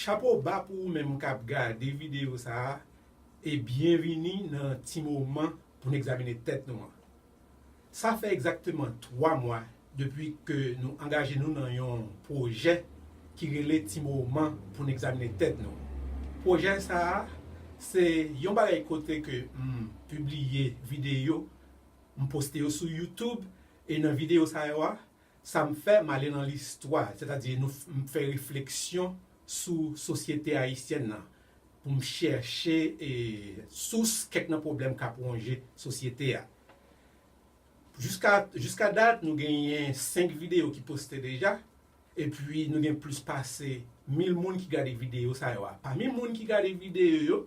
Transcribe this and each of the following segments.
Chapo ba pou ou menm kap gade videyo sa a e byenvini nan ti moman pou n egzamine tèt nou an. Sa fè egzakteman 3 mwa depi ke nou angaje nou nan yon pwojè ki rele Ti Moman pou n egzamine tèt nou. Pwojè sa a se yon bagay kote ke m pibliye videyo, m poste yo sou YouTube e nan videyo sa yo a, sa m fè m ale nan listwa, sètadi nou m fè refleksyon sou sosyete ayisyèn nan, pou m chèche sous kèk nan pwoblèm k ap wonje sosyete a. Jiska dat, nou genyen 5 videyo ki poste deja, epi nou gen plis pase 1000 moun ki gade videyo sa yo a. Pami moun ki gade videyo yo,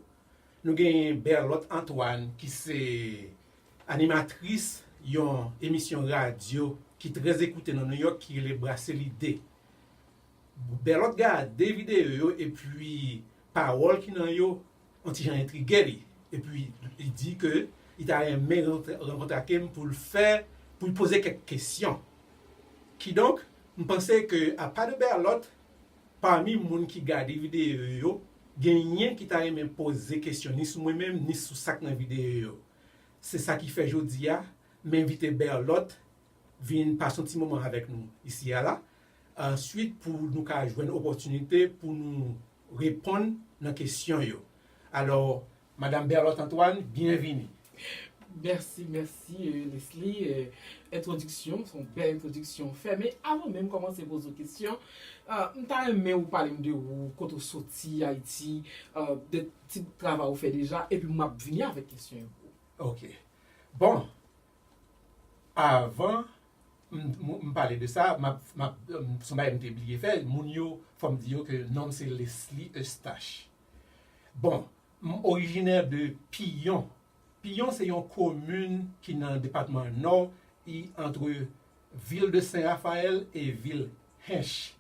nou genyen Berlot Antoine ki se animatris yon emisyon radyo ki trèzekoute nan Nouyòk ki rele Brase Lide. Berlot gade videyo yo epi pawòl ki nan yo on ti jan entrige li, epi li di ke li ta renmen rankontre ake m pou l fè, pou l poze kèk kesyon. Kidonk, m panse ke apa de Berlot, pami moun ki gade videyo yo, genyen ki ta renmen poze kesyon ni sou mwen menm ni sou sa k nan videyo yo. Se sa ki fè jodi a, m envite Berlot Vin pase yon ti moman avèk nou isi a la. Answit pou nou ka jwenn opòtinite pou nou reponn nan kesyon yo. Alò, Madam Berlotte Antoine, byenvini. Mèsi, mèsi Lesly. Entwodiksyon, se yon bèl entwodiksyon ou fè. Men, avan menm kòmanse poze w kesyon, m ta renmen ou pale m de ou, kote ou soti, Ayiti, de ti bout travay ou fè deja, epi m ap vini avèk kesyon yo pou ou. Ok. Bon, Avan m pale de sa, m ap, m ap, son bagay m te bliye fè, moun yo fò m di yo ke non m se Leslie Eustache. Bon, m orijinè de Piyon. Piyon se yon komin ki nan depatman Nò, li antre vil de Sen Rafayèl e vil Hench.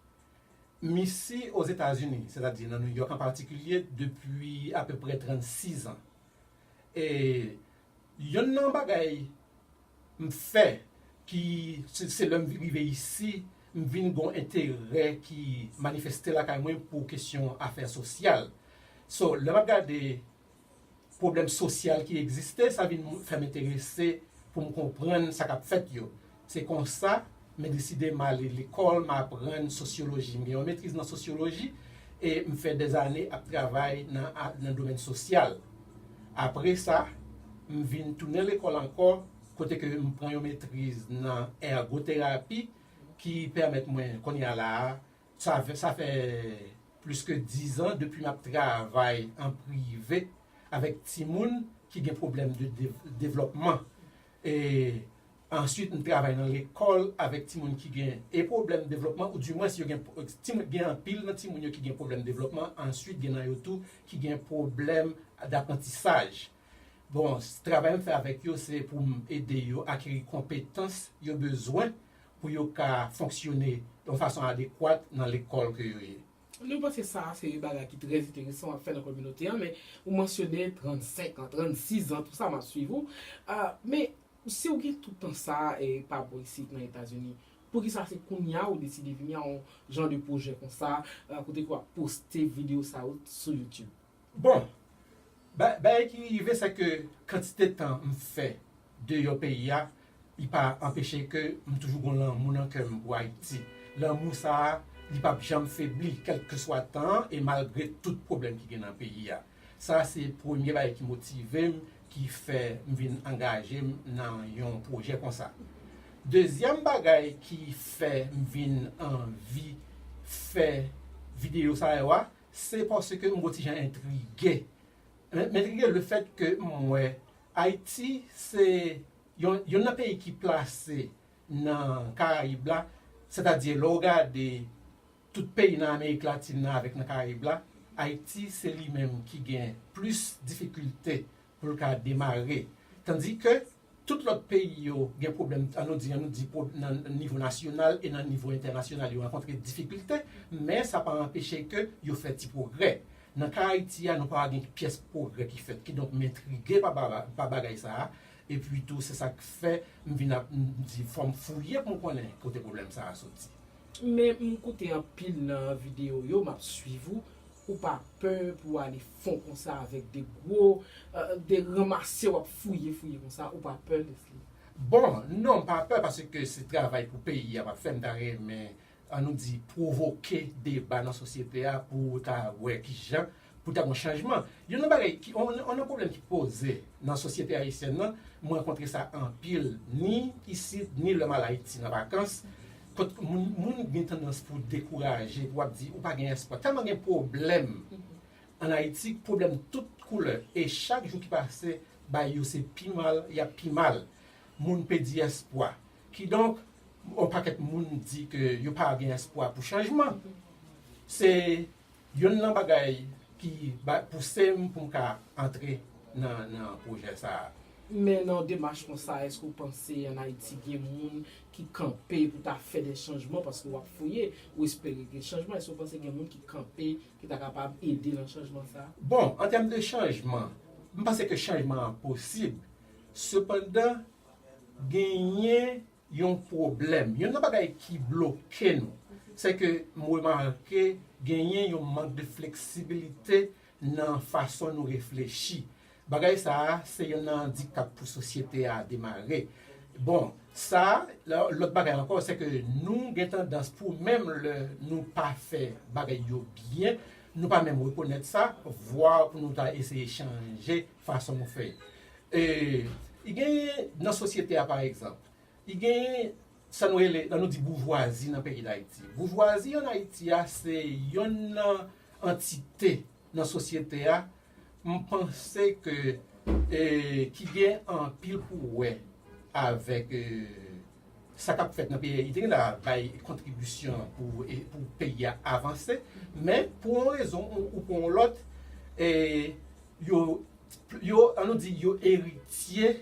M isi Ozetazini, sètadi nan Nouyòk an patikilye depi apeprè 36 an. E. Yonn nan bagay m fè ki se lè m vin rive isi m vin gen yon enterè ki manifeste lakay mwen pou kesyon afè sosyal so lè m ap gade pwoblèm sosyal ki egziste sa vin fè m enterese pou m konprann sa k ap fèt yo. Se konsa, m deside m ale lekòl, m aprann sosyoloji. M gen yon metriz nan sosyoloji e m fè dèzane ap travay nan domèn sosyal. Apre sa, m vin tounen lekòl ankò kote ke m pran yon metriz nan ègoterapi ki pèmèt mwen kounye a la a, sa fè plis ke dizan depi m ap travay an prive avèk timoun ki gen pwoblèm de devlòpman. E answit m travay nan lekòl avèk timoun ki gen e pwoblèm devlòpman ou di mwens yo gen timoun gen anpil nan timoun yo ki gen pwoblèm devlòpman answit gen nan yo tou ki gen pwoblèm daprantisaj. Bon travay m fè avèk yo se pou m ede yo akeri konpetans yo bezwen pou yo ka fonksyone yon fason adekwat nan lekòl ke yo ye. Nou panse sa a se yon bagay ki trè enteresan w ap fè nan kominote an, men ou mansyone 35 an, 36 an, tou sa m ap suiv ou. Men, si w gen tout tan sa a e pa bò isit nan Etazini, poukisa se kounye a ou deside vini a yon jan de pwojè konsa, kote ke w ap poste videyo sa yo sou YouTube? Bon, bagay ki rive se ke kantite tan m fè deyò peyi a, li pa anpeche ke m toujou gon lanmou nan kè m pou Ayiti. Lanmou sa a, li pap janm febli, kèlkeswa tan an e malgre tout pwoblèm ki gen nan peyi a. Sa se premye bagay ki motive m, ki fè m vin angaje m nan yon pwojè konsa. Dezyèm bagay ki fè m vin anvi fè videyo sa yo a, Se paske m gon ti jan entrige. M entrige le fèt ke m wè Ayiti se yonn nan peyi ki plase nan Karayib la, sètadi lè w gade tout peyi nan Amerik Latin nan avèk nan Karayib la, Ayiti se li menm ki gen plis difikilte pou l ka demare. Tandi ke tout lòt peyi yo gen pwoblèm, an nou di, an nou di nan nivo nasyonal e nan nivo entènasyonal yo rankontre difikilte, men sa pa anpeche ke yo fè ti pwogrè. Nan ka Ayiti a, nou pa gen pyès pwogrè ki fèt. Kidonk m entrige pa bagay sa a, epi tou se sa k fè m vin ap di fò m fouye pou m konnen kote pwoblèm sa a soti. Men m koute anpil nan videyo w yo, m ap swiv ou, Ou pa pè pou w ale fon konsa avèk de gwo, de ranmase w ap fouye fouye konsa, ou pa pè Lesly? Bon, non m pa pè paske se travay pou peyi a m ap fè m ta renmen an nou di pwovoke deba nan sosyete a pou ta wè kijan pou ta gon chanjman. Youn nan bagay ki, youn nan pwoblèm ki poze nan sosyete ayisyèn nan, m rankontre sa anpil ni isit ni lè m al Ayiti nan vakans, Kot moun moun gen tandans pou dekouraje pou ap di ou pa gen espwa tèlman gen pwoblèm an ayiti pwoblèm tout koulè e chak jou ki pase bay yo se pi mal yap pi mal moun pedi espwa kidonk yon pakèt moun di ke yo pa gen espwa pou chanjman se Yonn nan bagay ki bay pouse m pou m ka antre nan pwojè sa a. Men nan yon demach konsa èske ou panse an Ayiti gen moun ki kanpe pou ta fè de chanjman paske w ap fouye, ou espere gen chanjman, èske ou panse gen moun ki kanpe ki ta kapab ede nan chanjman sa a? Bon, an tèm de chanjman, m panse ke chanjman an posib, sepandan genyen Yon pwoblèm. Youn nan bagay ki bloke nou, se ke m remake genyen yon mank de fleksibilite nan fason nou reflechi. Bagay sa a se youn nan andikap pou sosyete a demare. Bon, sa, lòt bagay ankò, se ke nou gen tandans pou menm lè nou pa fè bagay yo byen, nou pa menm rekonèt sa, vwa pou nou ta eseye chanje. fason nou fè e genyen nan sosyete a pa egzanp e genyen sa nou rele lè nou di boujwazi nan peyi dayiti boujwazi an ayiti a se yonn nan antite nan sosyete a m panse ke e ki gen anpil pou wè avèk e Sa k ap fèt nan peyi Ayiti la bay kontribisyon pou peyi a avanse, men pou yon rezon ou pou yon lòt, yo, an nou di, yo eritye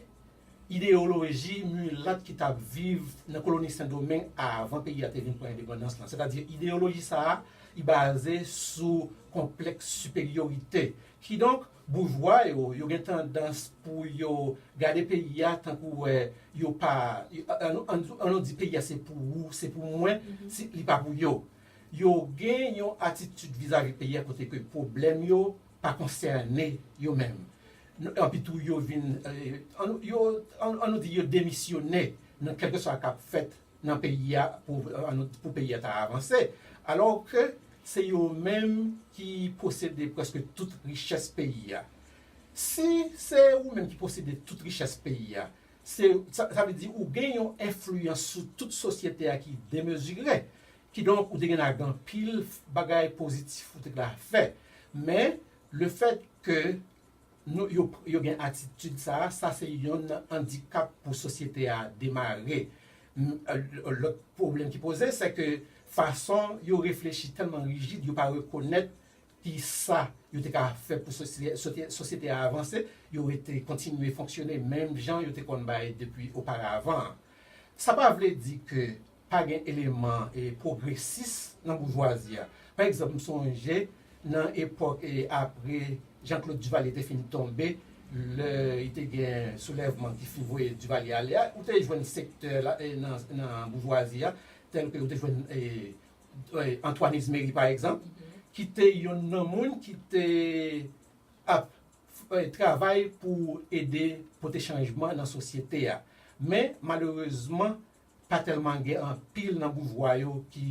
ideyoloji milat ki t ap viv nan koloni Sendomeng avan peyi a te vin pran endepandans lan. Sètadi ideyoloji sa a li baze sou konplèks siperyorite. Kidonk, Boujwa yo, yo gen tandans pou yo gade peyi a tankou wè yo pa, an nou di peyi a se pou ou, se pou mwen, li pa pou yo. Yo gen yon atitid vizavi peyi a kote ke pwoblèm yo pa konsène yo menm. Epi tou yo vin, an nou di yo demisyone nan kèlkeswa kap fèt nan peyi a pou peyi a ta avanse alò ke se yo menm ki posede prèske tout richès peyi a. Si se ou menm ki posede tout richès peyi a, sa vle di ou gen yon enfliyans sou tout sosyete a ki demezire. Kidonk ou te gen la gen anpil bagay pozitif ou te ka fè. Men, lefèt ke Nou yo yo gen atitid sa a, sa se yonn andikap pou sosyete a demare. Lòt pwoblèm ki poze se ke fason yo reflechi tèlman rijid yo pa rekonèt ki sa yo te ka fè pou sosyete a avanse, yo rete kontinye fonksyone menm jan yo te konn bay depi oparavan an. Sa pa vle di ke pa gen eleman pwogresis nan boujwazi a. Pa egzanp, m sonje nan epòk apre Janklod Divalye te fin tonbe, lè y te gen soulèvman ki fin voye Divalye ale a, ou te jwenn sektè nan boujwazi a, tèlke ou te jwenn Antwàn Izmeri pa egzanp, ki te youn nan moun ki te ap travay pou ede pote chanjman nan sosyete a. Men, malerezman, pa tèlman gen anpil nan boujwa yo ki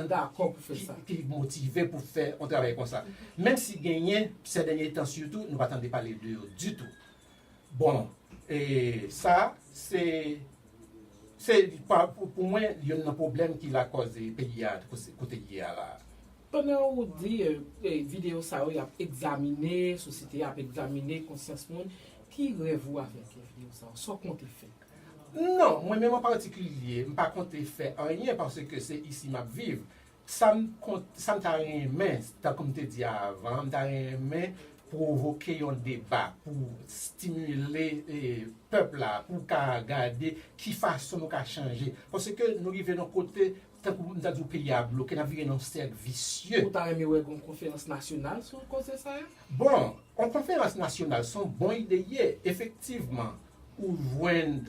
dakò pou fè sa, ki motive pou fè yon travay konsa. Menm si genyen, sè dènye tan sitou, nou pa tande pale de yo ditou. Bon, e sa, se, se, pou mwen, youn nan pwoblèm ki lakòz peyi a kote l ye a la a. Pandan ou di videyo sa yo y ap egzamine, sosyete a ap egzamine konsyans moun, ki rèv ou avèk videyo sa yo? Sa w konte fè? Non, mwen menm an patikilye, m pa konte fè anyen paske se isi m ap viv. Sa m sa m ta renmen, tankou m te di a avan, m ta renmen pwovoke yon deba pou stimile pèp la pou ka gade ki fason nou ka chanje. Paske nou rive nan kote, tankou m ta di w peyi a bloke, n ap vire nan yon sèk visye. Ou ta renmen wè gen yon konferans nasyonal sou koze sa a? Bon, yon konferans nasyonal se yon bon ide li ye, efektivman. Ou jwenn,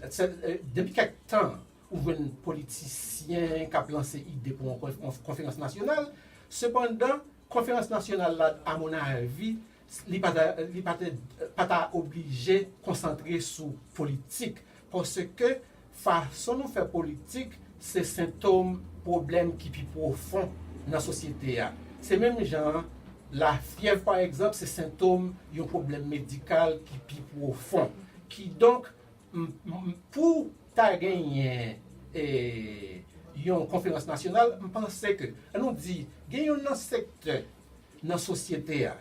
depi kèk tan, ou jwenn politisyen k ap lanse ide pou yon konferans nasyonal. Sepandan, konferans nasyonal la, amonnavi, li pa ta oblije konsantre sou politik paske Fason nou fè politik se sentom pwoblèm ki pi pwofon nan sosyete a. Se menm jan an, lafyèv pa egzanp se sentom yon pwoblèm medikal ki pi pwofon. Kidonk, pou ta genyen yon konferans nasyonal, m panse ke, an nou di, gen yon nan sektè nan sosyete a,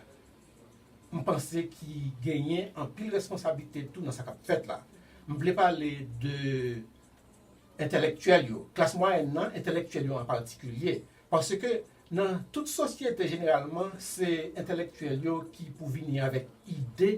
m panse ki genyen anpil responsablite tou nan sa k ap fèt la. M vle pale de entèlektyèl yo, klas mwayèn nan, entèlektyèl yo an patikilye. Paske nan tout sosyete jeneralman se entèlektyèl yo ki pou vini avèk ide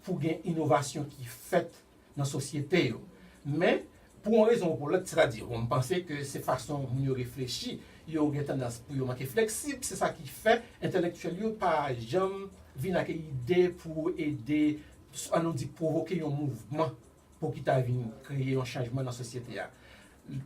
pou gen inovasyon ki fèt nan sosyete yo. Men, pou yon rezon ou pou lòt, sètadi bon, m panse ke se fason moun yo reflechi, yo gen tandans pou yo manke fleksib, se sa ki fè entelektyèl yo pa janm vin ak ide pou ede, an nou di pwovoke yon mouvman pou ki ta vin kreye yon chanjman nan sosyete a.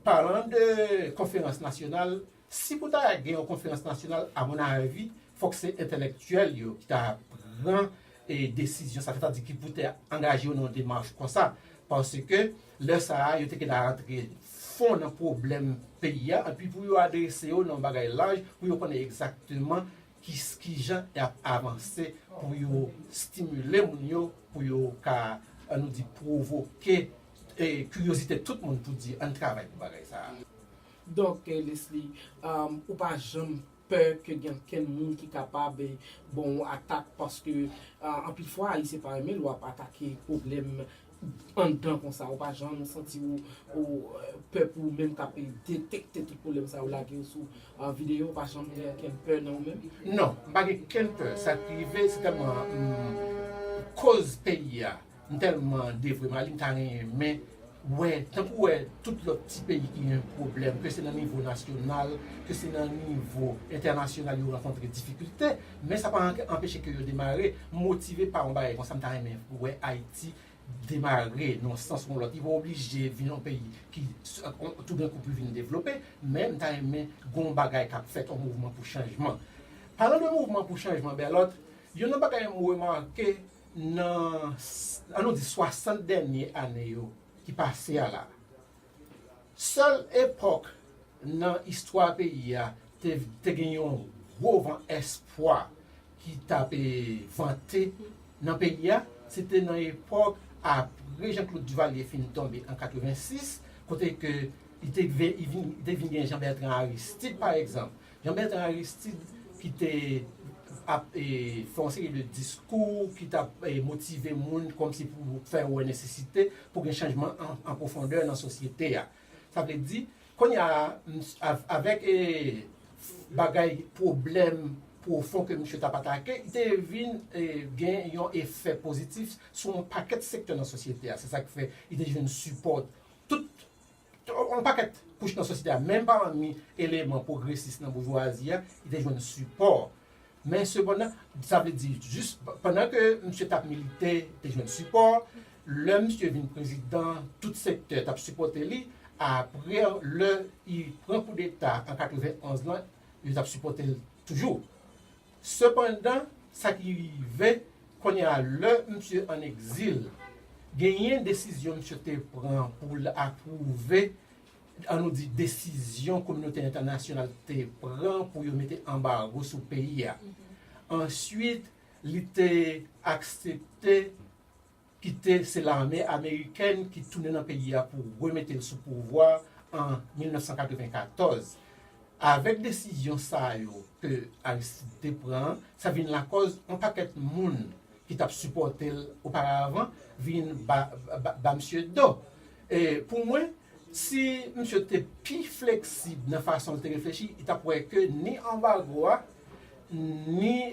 Palan de konferans nasyonal, Si pou ta gen yon konferans nasyonal a mon avi fòk se entèlèktyèl yo ki ta pran desizyon sa sètadi ki pou te angaje yo nan yon demach konsa paske lè sa a yo te gentan rantre fon nan pwoblèm peyi a epi pou yo adrese yo nan yon bagay laj pou yo konnen egzakteman kijan y ap avanse pou yo stimile moun yo pou yo ka an nou di pwovoke kiryozite tout moun pou di an n travay pou bagay sa a. Doktè Lesly, ou pa janm pè ke gen ankenn moun ki kapab ban ou atak paske anpil fwa Ayisyen pa renmen lè w ap atake pwoblèm anndan konsa. Ou pa janm santi ou pè pou ou menm k ap detekte tout pwoblèm sa yo lage yo sou videyo? Ou pa janm gen ankenn pè nan ou menm? Non, m pa gen kenn pè. Sa k rive se tèlman m koz peyi a. M telman devwe Mali m ta renmen wè tankou wè tout lòt ti peyi ki gen pwoblèm ke se nan nivo nasyonal ke se nan nivo entènasyonal yo rankontre difikilte men sa pa anpeche ke yo demare m motive pa yon bagay konsa m ta renmen wè Ayiti demare nan yon sans ou yon lòt li pa oblije vin yon peyi ki toudenkou pou vin devlope men m ta renmen gen yon bagay k ap fèt yon mouvman pou chanjman palan de mouvman pou chanjman Bèlòt youn nan bagay m remake Nan, an nou di 60 dènye ane yo ki pase a la, sèl epòk nan istwa peyi a te te gen yon gwo van espwa ki t ap vante nan peyi a, se te nan epòk apre Jean Claude Duvalier fin tonbe an 86, kote ke li te vin gen Jean Bertrand Aristide pa egzanp. Jean Bertrand Aristide ki te ap fè yon seri de diskou ki t ap motive moun kòmsi pou fè yo wè nesesite pou gen chanjman an pwofondè nan sosyete a. Sa vle di, kounye a, avèk bagay pwoblèm pwofon ke misye t ap atake, li te vin gen yon efè pozitif sou yon pakèt sektè nan sosyete a. Se sa k fè li te jwenn sipò tout Yon pakèt kouch nan sosyete a, menm pami eleman pwogresis nan boujwazi a, ki te jwenn sipò. Men sepandan, sa vle di, jis pandan ke misye t ap milite, li te jwenn sipò. Lè misye vin prezidan, tout sektè t ap sipòte li. Apre, lè li pran koudeta an 91 lan, yo t ap sipòte l toujou. Sepandan, sa ki rive kounye a lè misye ann egzil, genyen desizyon misye te pran pou l apwouve, an nou di desizyon kominote entènasyonal te pran pou yo mete anbago sou peyi a. Ansuit, li te aksepte Kite se lame amerikèn ki tounen nan peyi a pou remete l sou pouvwa an 1994. Avèk desizyon sa yo ke Aristide te pran an, sa vin lakòz yon pakèt moun ki t ap sipòte l oparavan vin ba misye do. Pou mwen, si misye te pi fleksib nan fason l te reflechi, li t ap wè ke ni anbago a, Ni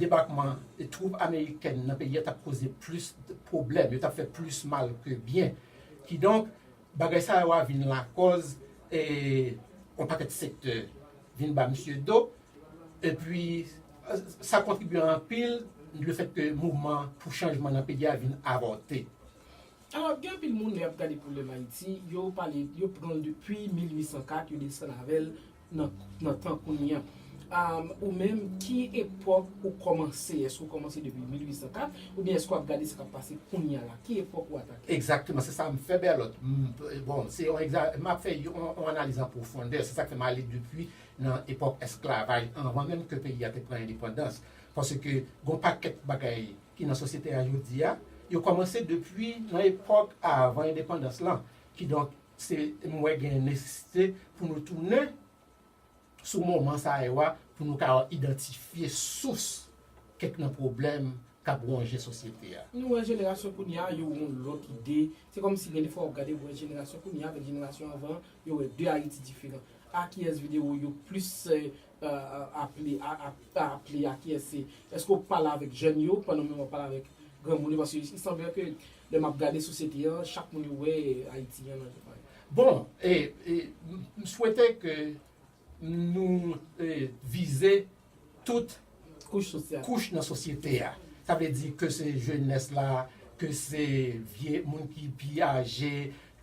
debakman twoup amerikèn nan peyi a tap koze plis pwoblèm, yo tap fè plis mal ke byen. Kidonk, bagay sa yo a vin lakòz yon pakèt sektè vin ba misye do, epi sa kontribye anpil le fèt ke mouvman pou chanjman nan peyi a vin avòte. Alò, gen anpil moun lè y ap gade pwoblèm Ayiti, yo pale, yo pran l depi 1804, yo desann avè l nan tan kounye a. Ou menm ki epòk ou kòmanse? Èske ou kòmanse depi 1804 oubyen èske w ap gade sa k ap pase kounye a la? Ki epòk ou atake? Egzakteman, se sa m fè Berlot. Bon, se yon egza, m ap fè yon analiz an pwofondè. Se sa k fè m ale depi nan epòk esklavaj, anvan menm ke peyi a te pran endepandans. Paske gon pakèt bagay ki nan sosyete a jodi a, yo kòmanse depi nan epòk avan endepandans lan. Kidonk, Se m wè gen nesesite pou nou tounen sou moman sa yo a pou nou ka idantifye sous kèk nan pwoblèm k ap wonje sosyete a. Nou wè jenerasyon kounye a yo yon lòt ide. Se kòmsi gen defwa w ap gade w wè jenerasyon kounye a avèk jenerasyon anvan an, yo wè de Ayiti diferan. A kiyès videwo yo plis Aple pa aple a kiyès se eske ou pale avèk jèn yo pandan menm wap pale avèk granmoun yo paske il sanble ke lè map gade sosyete an chak moun yo wè ayiti an nan jan Bon e m swete ke nou vize tout kouch nan sosyete a sa vle di ke se jenès la ke se vye moun ki pi aje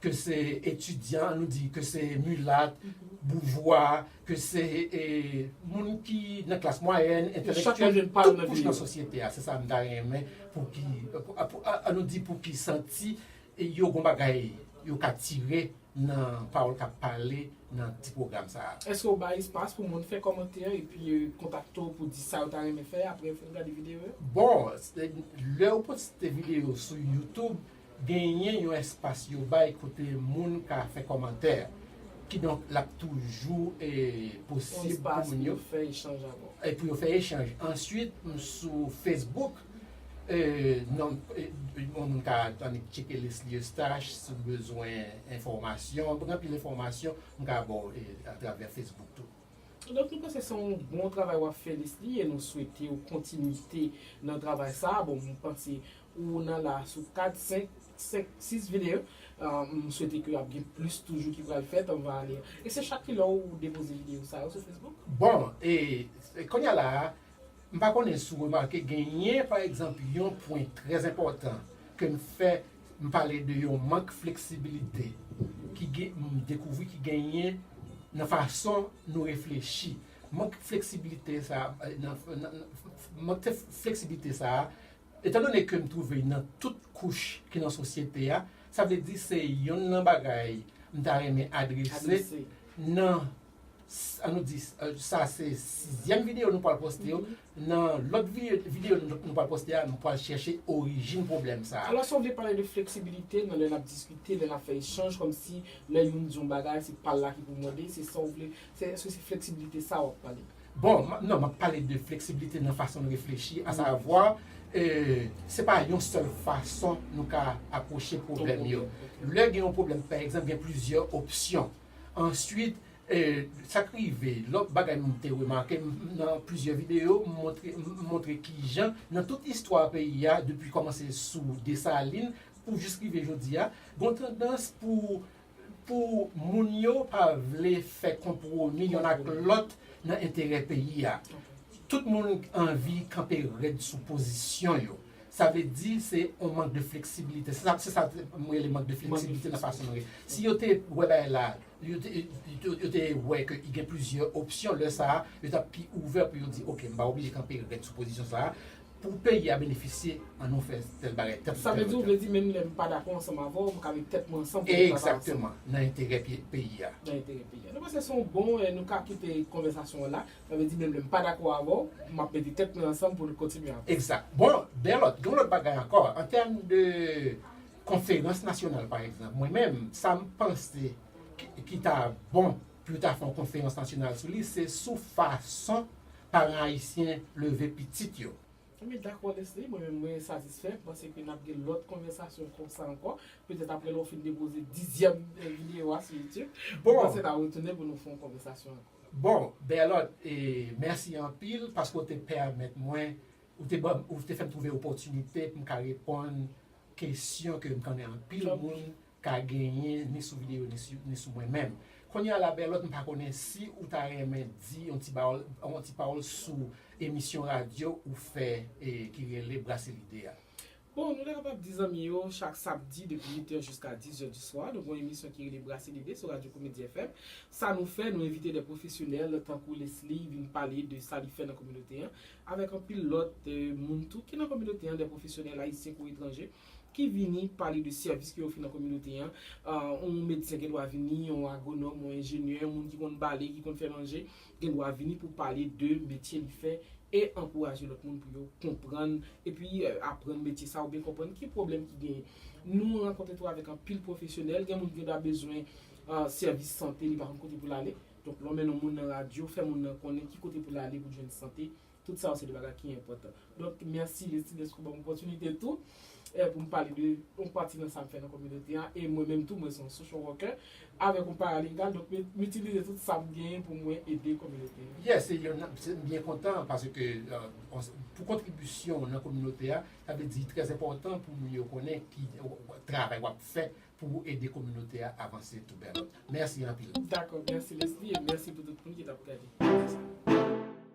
ke se etidyan, nou di ke se milat, boujwa, ke se moun ki nan klas mwayèn, entèlektyèl, tout kouch nan sosyete a, se sa m ta renmen pou ki, an nou di pou ki santi yo gon bagay yo ka tire nan pawòl k ap pale nan ti pwogram sa a. Eske ou bay espas pou moun fè kòmantè epi kontakte w pou di sa yo ta renmen fè aprè yo fin gade videyo yo? Bon, lè ou poste videyo sou youtube, Genyen yon espas yo bay kote moun ka fè kòmantè. Kidonk l ap toujou posib pou moun yo fè echanj avè w. Pou yo fè echanj. Answit m sou Facebook, yon moun ka annik tcheke Lesly Eustache si w bezwen enfòmasyon. M gen anpil enfòmasyon m ka ba w atravè Facebook tou. Donk nou panse se yon bon travay wap fè Lesly e nou swetew kontinite nan travay sa, bon mwen panse ou nan la sou 4 5 5 6 video m swete ke ap gen plis toujou ki pral fèt on va aller e se chak kilè ou depoze video sa yo sou Facebook? Bon e konnya la m pa konnen si w remake genyen pa egzanp yon pwen trè enpòtan ke m fè M pale de yon mank fleksibilite ki gen, m dekouvri ki genyen nan fason nou reflechi. Mank fleksibilite sa a, mank fleksibilite sa a, etan done ke m twouve nan tout kouch ki nan sosyete a, sa vle di se yonn nan bagay m ta renmen adrese nan, an nou di, sa se sizyèm videyo nou pral poste yo, Nan lòt videyo nou pral poste a, nou pral chèche orijin pwoblèm sa a. Alòs yo vle pale de fleksibilite nan lè n ap diskite, lè n ap fè echanj, kòmsi lè youn di yon bagay se pa l la ki pou mande, se sa w vle, se èske se fleksibilite sa a w ap pale? Bon, non, m ap pale de fleksibilite nan fason n reflechi, asavwa, se pa yon sèl fason nou ka apwoche pwoblèm yo. Lè gen yon pwoblèm, pa egzanp, gen plizyè opsyon. Answit, sa k rive, lòt bagay m te remake, nan plizyè videyo m montre m montre kijan nan tout istwa peyi a depi kòmanse sou Desalin pou jis rive jodi a, gon tandans pou pou moun yo pa vle fè konpwomi yonn ak lòt nan enterè peyi a. Tout moun anvi kanpe rèd sou pozisyon yo. Sa vle di se yon mank de fleksibilite. Se sa se sa m rele mank de fleksibilite nan fason nou re. Si yo te wè bagay la, yo te yo te wè ke gen plizyè opsyon, lè sa a, yo t ap pi ouvè pou yo di ok m pa oblije kanpe rèd sou pozisyon sa a. Pou peyi a benefisye, an nou fè tèl bagay, tèl sa vle di ou vle di menm lè m pa dakò ansanm avè w, m ka met tèt mwen ansanm pou nou travay ansanm. Egzakteman. Nan enterè peyi a. Nan enterè peyi a. Nou panse se yon bon, nou ka kite konvèsasyon an la. Sa vle di menm lè m pa dakò avè w, m ap mete tèt mwen ansanm pou n kontinye avè w. Egzat. Bon, de lòt, gen yon lòt bagay ankò. An tèm de konferans nasyonal pa egzanp, mwen menm, sa m panse ki ta bon pou yo ta fè yon konferans nasyonal sou li, se sou fason paran ayisyen leve pitit yo. Anben, dakò Lesly, mwen menm mwen satisfè, m panse ke n ap gen lòt konvèsasyon konsa ankò, petèt aprè lè w fin depoze dizyèm videyo a sou Youtube, m panse n a retounen pou nou fè yon konvèsasyon ankò. Bon Berlot mèsi anpil paske w te pèmèt mwen, ou te banm, ou te fè m twouve opòtinite pou m ka reponn kesyon ke m konnen anpil moun ka genyen ni sou videyo ni sou mwen menm. Kounye a la Berlot m pa konnen si ou ta renmen di yon ti pawòl, yon ti pawòl sou emisyon radyo ou fè ki rele Brase Lide a. Bon nou te kapab di zanmi yo chak sabdi depi 8 è jiska 10 è di swa nou gen yon emisyon ki rele Brase Lide sou Radyo Komedi FM. Sa nou fè, nou envite de pwofesyonèl tankou Leslie vin pale de sa li fè nan kominote an avèk anpil lòt moun tou ki nan kominote an, de pwofesyonèl ayisyen kou etranje ki vini pale de sèvis ke yo ofri nan kominote an. Yon medsen gen dwa vini, yon agwonòm, yon enjenyè, yon moun ki konn bale, ki konn fè manje. gen dwa vini pou pale de metye li fè e ankouraje lòt moun pou yo konprann epi aprann metye sa oubyen konprann ki pwoblèm ki genyen. Nou rankontre tou avèk anpil pwofesyonèl, gen moun ki gen dwa bezwen sèvis sante li pa konn kote pou l ale, donk lè w mennen yon moun nan radyo, fè moun nan konnen ki kote pou l ale pou l jwenn sante Tout sa yo se de bagay ki enpòtan. Donk, mèsi Lestine dèske ou ban m opòtinite tou pou m pale de yon pati nan sa m fè nan kominote a. E mwen menm tou, mwen se yon social worker avèk yon paralingal. Donk, m itilize tout sa m genyen pou mwen ede kominote a. Yes, m byen kontan paske pou kontribisyon w nan kominote a, sa vle di trè enpòtan pou moun yo konnen ki travay w ap fè pou w ede kominote a avanse tou bèl. Mèsi anpil. Dakò, mèsi Leslie e mèsi pou tout moun ki t ap gade.